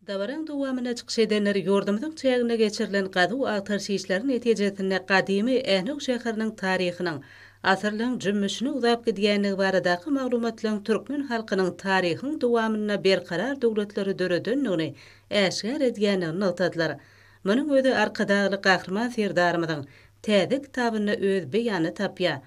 Dabaraň dowamynda çykyş edenler ýurdumyzyň çäginde geçirilen gazuw-agtaryş işleri netijesinde gadymy Ähnew şäheriniň taryhynyň asyrlaryň jümmüşine uzap gidýändigi baradaky maglumatlaryň türkmen halkynyň taryhyň dowamynda berkarar döwletleri döredendigini äşgär edýändigini nygtadylar. Munuň özi Arkadagly Gahryman Serdarymyzyň täze kitabynda öz beýanyny tapýar.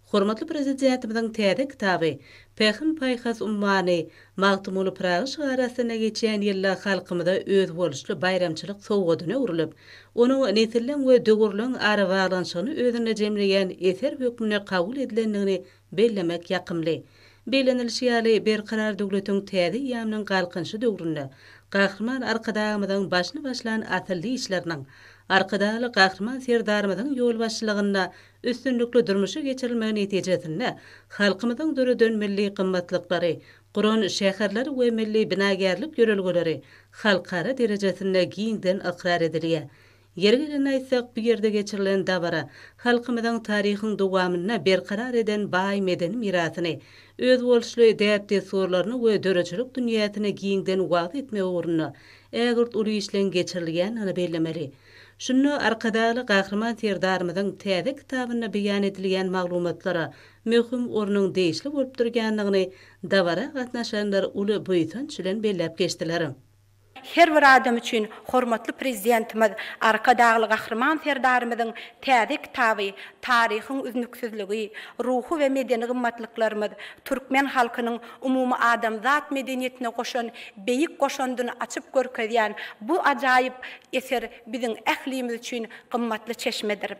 Hormatly Prezidentimiziň täze kitaby Pähim-paýhas ummany Magtymguly Pyragy şygary astynda geçýän ýylda halkymyza özboluşly baýramçylyk sowgadyna öwrülip, onuň nesilleň we döwürleň arabaglanyşygyny özünde jemleýän eser hökmünde kabul edilendigini bellemek ýakymly. Bellenilişi ýaly, Berkarar döwletiň täze eýýamynyň Galkynyşy döwründe Gahryman Arkadagymyzyň başyny başlan asylly işleriniň, Arkadagly Gahryman Serdarymyzyň ýolbaşçylygynda üstünlikli durmuşa geçirilmegi netijesinde halkymyzyň döreden milli gymmatlyklary, guran şäherleri we milli binagärlik ýörelgeleri halkara derejesinde giňden ykrar edilýär. Ýeri gelende aýtsak, bu ýerde geçirilen dabara halkymyzyň taryhyň dowamynda berkarar eden baý medeni mirasyny, özboluşly däp-dessurlaryny we döredijilik dünýäsini giňden wagyz etmek ugrunda ägirt uly işleň geçirilýändigini bellemeli. Şunda Arkadagly Gahryman Serdarymyzyň täze kitabynda beýan edilýän maglumatlara möhüm ornuň degişli bolup durýandygyny dabara gatnaşanlar uly buýsanç bilen belläp geçdiler. Her bir adam üçin hormatly Prezidentimiz Arkadagly Gahryman Serdarymyzyň täze kitaby Taryhyň üznüksizligi, ruhy we medeni gymmatlyklarymyz, türkmen halkynyň umumy adamzat medeniýetine goşan beýik goşandyny açyp görkezýän bu ajaýyp eser biziň ählimiz üçin gymmatly çeşmedir.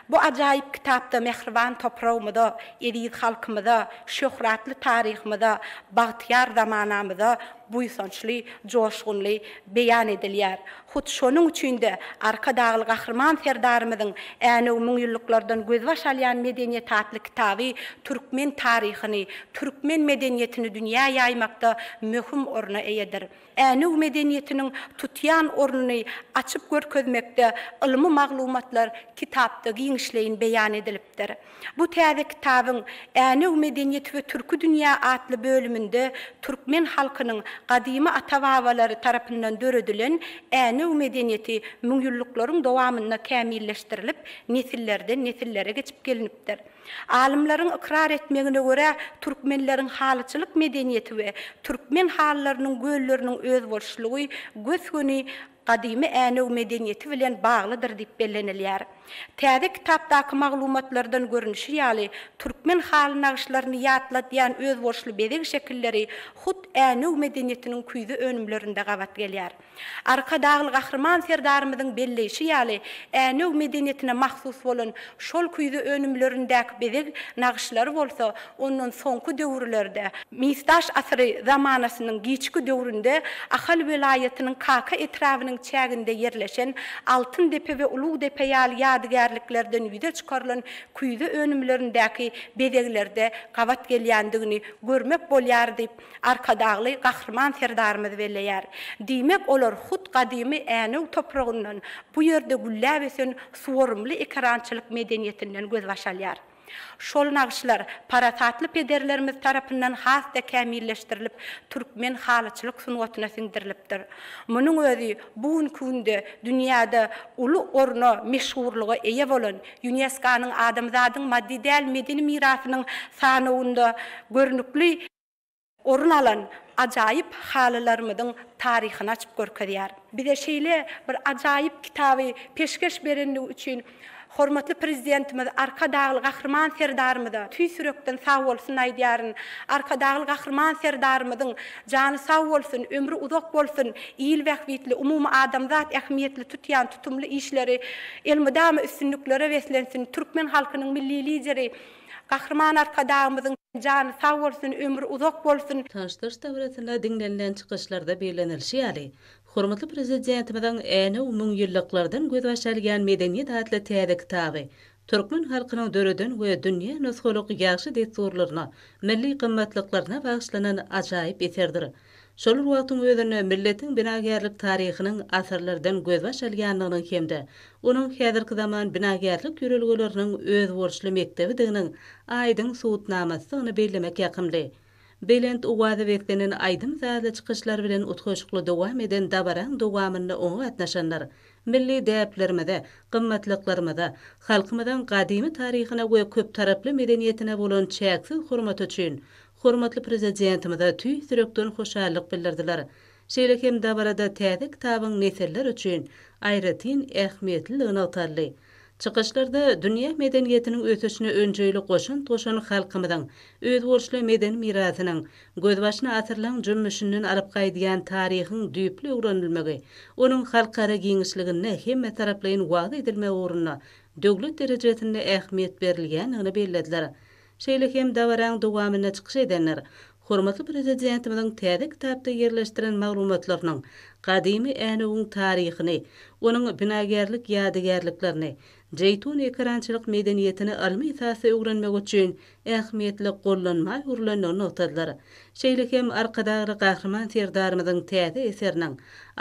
Bu ajaýyp kitapda mähriban topragymyza, eziz halkymyza, şöhratly taryhymyza, bagtyýar zamanamyza buýsançly, joşgunly beýan edilýär. Hut şonuň üçin-de Arkadagly Gahryman Serdarymyzyň Änew müňýyllyklardan gözbaş alýan medeniýet atly kitaby türkmen taryhyny, türkmen medeniýetini dünýä ýaýmakda möhüm orna eýedir. Änew medeniýetiniň tutýan ornuny açyp görkezmekde ylmy maglumatlar kitapda giňişleýin beýan edilipdir. Bu täze kitabyň Änew medeniýeti we türki dünýä atly bölüminde türkmen halkynyň gadymy ata-babalary tarapyndan döredilen Änew medeniýeti müňýyllyklaryň dowamynda kämilleşdirilip, nesillerden nesillere geçip gelinipdir. Alymlaryň ykrar etmegine görä, türkmenleriň halyçylyk medeniýeti we türkmen halylarynyň gölleriniň özboluşlygy gös-göni gadymy Änew medeniýeti bilen baglydyr diýip bellenilýär. Täze kitapdaky maglumatlardan görnüşi ýaly, türkmen haly nagyşlaryny ýatladýan özboluşly bezeg şekilleri hut Änew medeniýetiniň küýze önümlerinde gabat gelýär. Arkadagly Gahryman Serdarymyzyň belleýşi ýaly, Änew medeniýetine mahsus bolan şol küýze önümlerindäki bezeg nagyşlary bolsa Ondan soňky döwürlerde. Misdaş asyry zamanasynyň giçki döwründe Ahal welaýatynyň Kaka etrabynyň çäginde ýerleşen Altyndepe we Ulugdepe ýaly ýadygärliklerden ýüze çykarylan küýze önümlerindäki bezeglerde gabat gelýändigini görmek bolýar diýip, Arkadagly Gahryman Serdarymyz belleýär. Diýmek, olar hut gadymy Änew topragyndan, bu ýerde gülläp ösen suwarymly ekerançylyk medeniýetinden gözbaş alýar. Şol nagyşlar parasatly pederlerimiz tarapyndan has-da kämilleşdirilip, türkmen halyçylyk sungatyna siňdirilipdir. Munuň özi bu günki günde dünýäde uly orna, meşhurlyga eýe bolan, ÝUNESKO-nyň Adamzadyň maddy däl medeni mirasynyň sanawynda görnükli, orun alan ajaýyp halylarymyzyň taryhyny açyp görkezýär. Bize şeýle bir ajaýyp kitaby peşgeş berendigi üçin hormatly Prezidentimiz Arkadagly Gahryman Serdarymyza tüýs ýürekden sagbolsun aýdýaryn. Arkadagly Gahryman Serdarymyzyň jany sag bolsun, ömri uzak bolsun, il bähbitli, umumyadamzat ähmiýetli tutýan tutumly işleri elmydama üstünliklere beslensin, türkmen halkynyň Milli Lideri, Gahryman Arkadagymyzyň jany sag bolsun, ömri uzak bolsun! Taşlyş dabarasynda diňlenilen çykyşlarda bellenilişi ýaly, hormatly Prezidentimiziň Änew müňýyllyklardan gözbaş alýan medeniýet atly täze kitaby türkmen halkynyň döreden we dünýä nusgalyk ýagşy dessurlaryna, milli gymmatlyklaryna bagyşlanan ajaýyp eserdir. Şol bir wagtyň özünde milletiň binagärlik taryhynyň asyrlardan gözbaş alýandygynyň hem-de onuň häzirki zaman binagärlik ýörelgeleriniň özboluşly mekdebidiginiň aýdyň subutnamasydygyny bellemek ýakymly. Belent owaza beslenen aýdym-sazly çykyşlar bilen utgaşykly dowam eden dabaraň dowamynda oňa gatnaşanlar milli däplerimize, gymmatlyklarymyza, halkymyzyň gadymy taryhyna we köptaraply medeniýetine bolan çäksiz hormaty üçin hormatly Prezidentimize tüýs ýürekden hoşallyk bildirdiler. Şeýle hem dabarada täze kitabyň nesiller üçin aýratyn ähmiýetliligi nygtaldy. Çykyşlarda dünýä medeniýetiniň ösüşine önjeýli goşant goşan halkymyzyň özboluşly medeni mirasynyň, gözbaşyny asyrlaryň jümmüşinden alyp gaýdýan taryhyň düýpli öwrenilmegi, onuň halkara giňişliginde hemmetaraplaýyn wagyz edilmegi ugrunda döwlet derejesinde ähmiýet berilýändigini bellediler. Şeýle hem dabaranyň dowamynda çykyş edenler hormatly Prezidentimiziň täze kitapda ýerleşdiren maglumatlarynyň gadymy Änewiň taryhyny, onuň binagärlik ýadygärliklerini, Jeýtun ekerançylyk medeniýetini ylmy esasda öwrenmek üçin ähmiýetli gollanma öwrülendigini nygtadylar. Şeýle hem Arkadagly Gahryman Serdarymyzyň täze eseriniň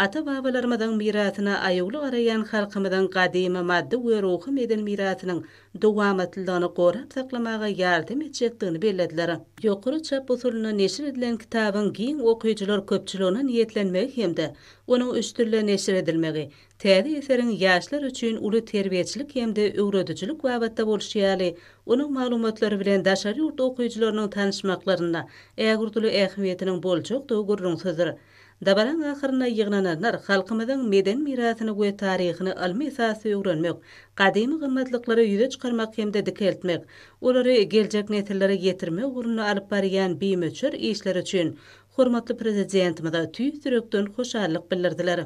ata-babalarymyzyň mirasyna aýawly garaýan halkymyzyň gadymy maddy we ruhy-medeni mirasynyň dowamatlylygyny gorap saklamaga ýardam etjekdigini bellediler. Ýokary çap usulynda neşir edilen kitabyň giň okyjylar köpçüligine niýetlenmegi hem-de onuň üç dilde neşir edilmegi, täze eseriň ýaşlar üçin uly terbiýeçilik hem-de öwredijilik babatda bolşy ýaly, onuň maglumatlary bilen daşary ýurt okyjylarynyň tanyşmaklarynda ägirduly ähmiýetiniň boljakdygy gürrüňsizdir. Dabaraň ahyrynda ýygnananlar halkymyzyň medeni mirasyny we taryhyny ylmy esasda öwrenmek, gadymy gymmatlyklary ýüze çykarmak hem-de dikeltmek, olary geljek nesillere ýetirmek ugrunda alyp barýan bimöçber işleri üçin hormatly Prezidentimize tüýs ýürekden hoşallyk bildirdiler.